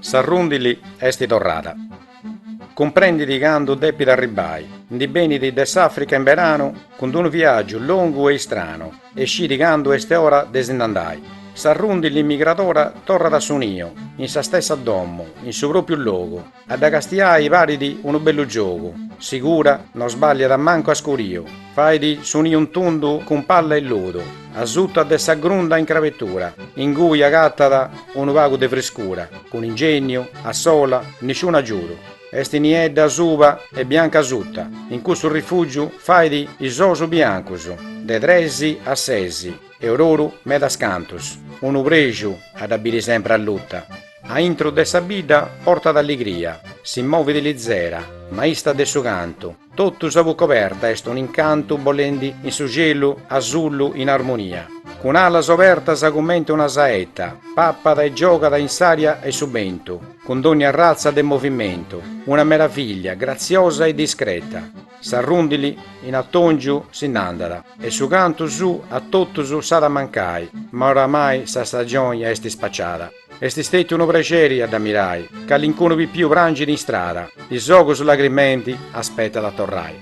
S'arrundili est torrada. Cumprendit candu depit arribbai. Ndi benit de s'Africa in beranu cun d-unu viagiu longu e istranu e scit candu est ora de si nd'andai. S'arrundili migradora torrat a su niu, in sa stessa domu, in su propriu logu. A dda castiai parit unu bellu giogu, sigura no sbàlliat mancu a scuriu, fait su niu in tundu cun palla e lodu, asuta de sa grunda in crabetura, ingui agatat unu pagu de friscura, cun ingènniu, a sola, nisciunu agiudu, est niedda asuba e bianca asuta, in cussu rifùgiu fait is ous biancus, de tres a ses. E oru oru medas cantus, unu prexu a dda biri sempre alluta, a intro de sa bidda portat alligria, si movit lizera, maista de su cantu, totu sa buc'oberta est un'incantu bolendi in su cielu asullu in armonia, cun alas obertas cumenti una saetta, papat e giogat in s'aria e su bentu, cun dònnia arratza de movimentu, una meravìllia, gratziosa e discreta. S'arrundili in atòngiu si nd'andat. E su cantu suu a totus s'at a mancai, ma oramai sa stagioni est spaciada. Est stètiu unu prexeri a dd'amirai, calincunu pipiu prangit in strada, is ogus lagrimendi aspetat a torrai.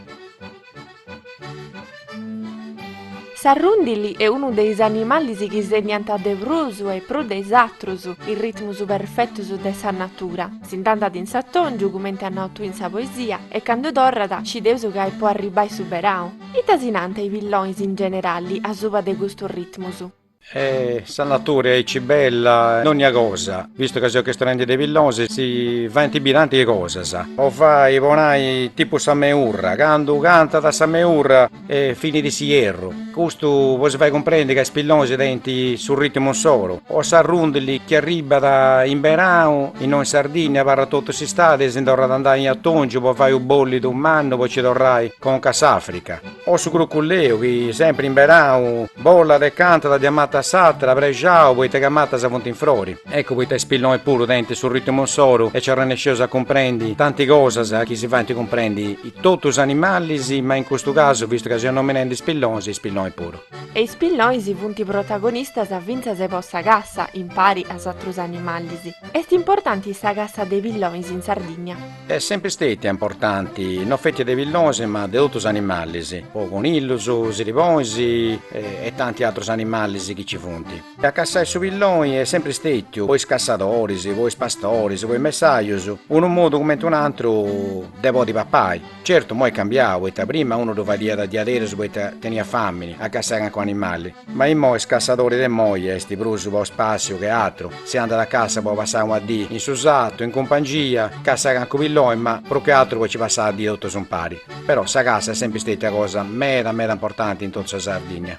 S'arrundili est unu de is animalis chi sinniant de prus e prus de is atrus is ritmus perfetus de sa natura. Si nd'andat in s'atòngiu, cumenti at nau tui in sa poesia, e candu torrat, scideus ca est po arribbai su berau. Ita si nant i pillonis in generali asuba de custus ritmus? E sa natura est aici bella in onnia cosa, vistu ca seus chistionendi de pillonis, si faint bi tanti cosas, po fai a nai tipu sa meurra, candu cantat sa meurra est finiu s'ierru, custu po si fai cumprendi ca is pillonis tenint su ritimu insoru, o s'arrundili chi arribbat in berau, innoi in Sardinnia abarrat totu s'istadi e si ndi torrat andai in atongiu po fai u' bollidu mannu po ci torrai conca a s'Africa. O su cruculleu chi sempri in berau bollat e cantat de una matta a s'attra prexau poita ca is mattas funt in frori. Eccu poita is pillonis puru tenint su rittimu insoru e ci arrennesceus a cumprendi tanti cosas chi si faint cumprendi totu is animalis ma in custu casu vistu ca seus nominendi is pillonis is pillonis puru. E is pillonis funt protagonistas fintzas po sa cassa impari a is atrus animalis. Est importanti sa cassa de pillonis in Sardigna. Est sempri stètia importanti, no feti de pillonis ma de totu is animalis, po conillus, siribonis e tanti atrus animalis chi ci funt. A cassai su pilloni est sempri stètiu, po is cassadoris, po is pastoris, po is messajus, unu modu cumenti un'atru de podi papai. Certu, moi est cambiau, poita prima unu ddu fadiat diaderus poita teniat fàmini a cassai calincunu animali. Ma immoi is cassadoris de immoi est prus po spassiu che atru, si andat a cassa po passai una dì in su sartu, in cumpangia, cassai cancu pilloni, ma prus che atru po ci passai sa dì totus impari. Però sa cassa est sempri stetia una cosa meda meda importanti in totu sa Sardinnia.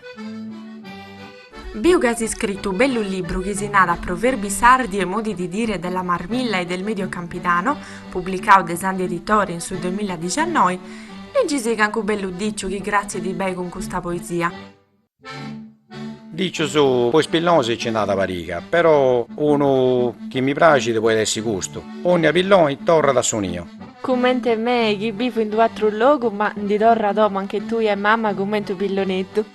Biu chi as iscritu u bellu libru chi si narat Proverbi sardi e modi di dire della Marmilla e del Medio Campidano, publicau de Sandi Editore in su duemilla diciannoi, liggi si cancu bellu diciu chi cratzit bei cun custa poesia. Dicius po is pillonis nci nd'at pariga, però unu chi mi praxit poit essi custu, Onnia pilloni torrat a su niu. Cummente mei chi bivu in d'u atru logu ma ndi torru a domu anch'e tui e mamma cummente u pilloneddu.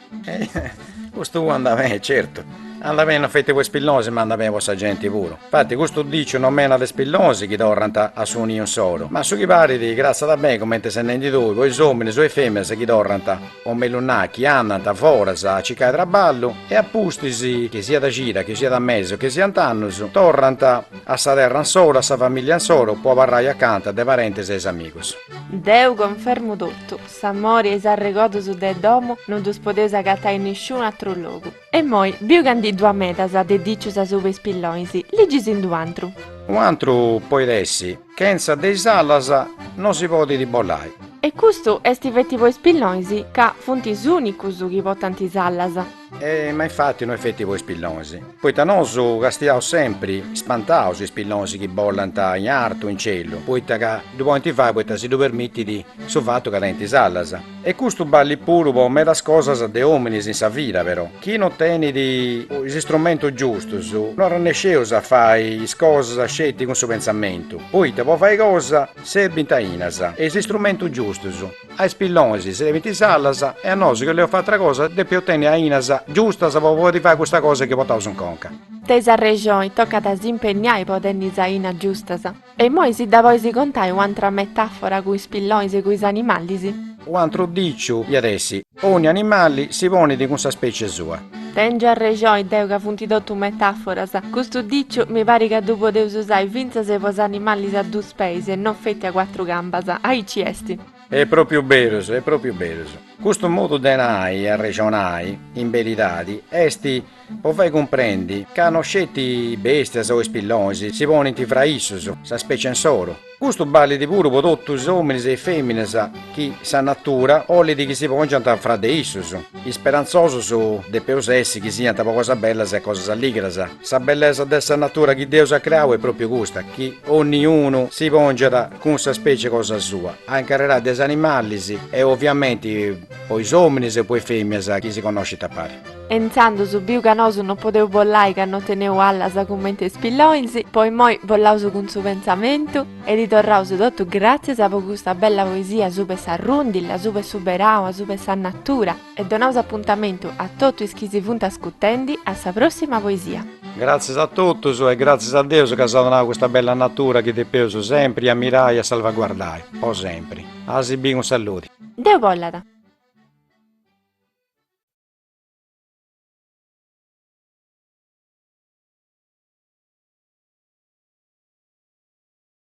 Custu andat beni, certu, andat beni non feti po is pillonis ma andat beni po sa genti puru. Infati custu diciu nòmenat is pillonis chi torrant a su niu insoru, ma a su chi parit cratzat beni cumenti ses nendi tui po is ominis o is feminas chi torrant, o mellus nai chi andant foras a circai traballu e a pustis, chi siat cida, chi siat mesi o chi siant annus, torrant a sa terra insoru, a sa familia insoru, po abarrai acanta de parentes e is amigus. Deu confermu totu, s'amori e is arregodus de domu no ddus podeus agatai in nisciunu atru logu. E immoi biu ca ndi ddu at medas de dicius asuba 'e is pillonis, liggi si nd'u antru. U antru poit essi. Chentza de is alas no si podit bolai. E custu est feti po is pillonis ca funt is ùnicus chi potant is alas. Ma infati no est feti po is pillonis, poita nosu castiaus sempri spantaus is pillonis chi bolant in artu, in celu, poita ca ddu podint fai poita si ddu permitit su fatu ca tenint is alas. E custu ballit puru po medas cosas de ominis in sa vida però, chi non tenit is istrumentus giustus no arrannesceus a fai is cosas sceti cun su pentzamentu, poita po fai cosa serbint ainas e is istrumentus giustus, a is pillonis serbint is alas e a nosu chi oleus fai atra cosa depeus tenni ainas giustas po podi fai custa cosa chi potaus in conca. Teis arrexoni, tocat a s'impenniai po tenni is ainas giustas. E immoi si dda bois contai u'antra metafora cun is pillonis e cun is animalis? U'antru diciu iat essi, Ogni animali si ponit cun sa specie sua. Tengiu arrexoi deu ca funt totu metaforas. Custu diciu mi parit ca ddu podeus usai fintzas po is animalis a dus peis e non feti a cuatru gambas. Aici esti. Est propriu berus, est propriu berus. Custu modu de nai e arrexonai, in beridadi, est po fai cumprendi ca no sceti bèstias o is pillonis si ponint fra issus, sa specie insoru. Custu ballit puru po totu is ominis e is feminas chi sa natura ollit chi si pongiant fra de issus, isperantzosus depeus essi chi siant po cosas bellas e cosas alligras. Sa bellesa de sa natura chi Deus at creau est propriu custa, chi onniunu si pongiat cun sa specie cosa sua, a incarrerai de is animalis e oviamenti po is ominis e po is femias chi si connoscint a pari. E intzandus biu ca nosu no podeu bollai ca no teneu allas cumenti is pillonis, po immoi bollaus cun su pentzamentu e ddi torraus totu gratzias po custa bella poesia asuba 'e sa rundilla, asuba 'e su berau, asuba 'e sa natura, E donaus apuntamentu a totu is chi si funt ascutendi a sa prossima poesia. Gratzias a totus e gratzias a Deus chi s'at donau custa bella natura chi depeus sempri ammirai e salvaguardai po sempri. A si biri cun salludi. Deu bollat.